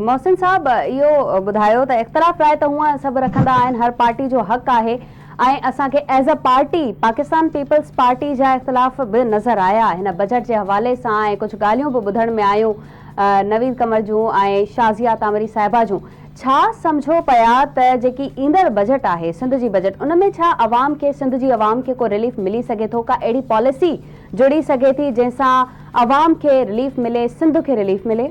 محسن صاحب اهو ٻڌايو ته اختلاف راء ته هونئن سڀ رکندا آهن هر پارٽي جو حق آهي ۽ اسان کي as a party Pakistan Peoples Party جا اختلاف به نظر آيا هن بجيٽ جي حوالي سان ۽ ڪجهه ڳالهيون به ٻڌڻ ۾ آيون نويد قمر جون ۽ شازيا ڪانوري صاحبه جون ڇا سمجهو پيا ته جيڪي ايندڙ بجيٽ آهي سنڌ جي بجيٽ ان ۾ ڇا عوام کي سنڌ جي عوام کي ڪو رليف ملي سگهي ٿو ڪا اهڙي پاليسي جڙي سگهي ٿي جنهن سان عوام کي رليف ملي سنڌ کي رليف ملي.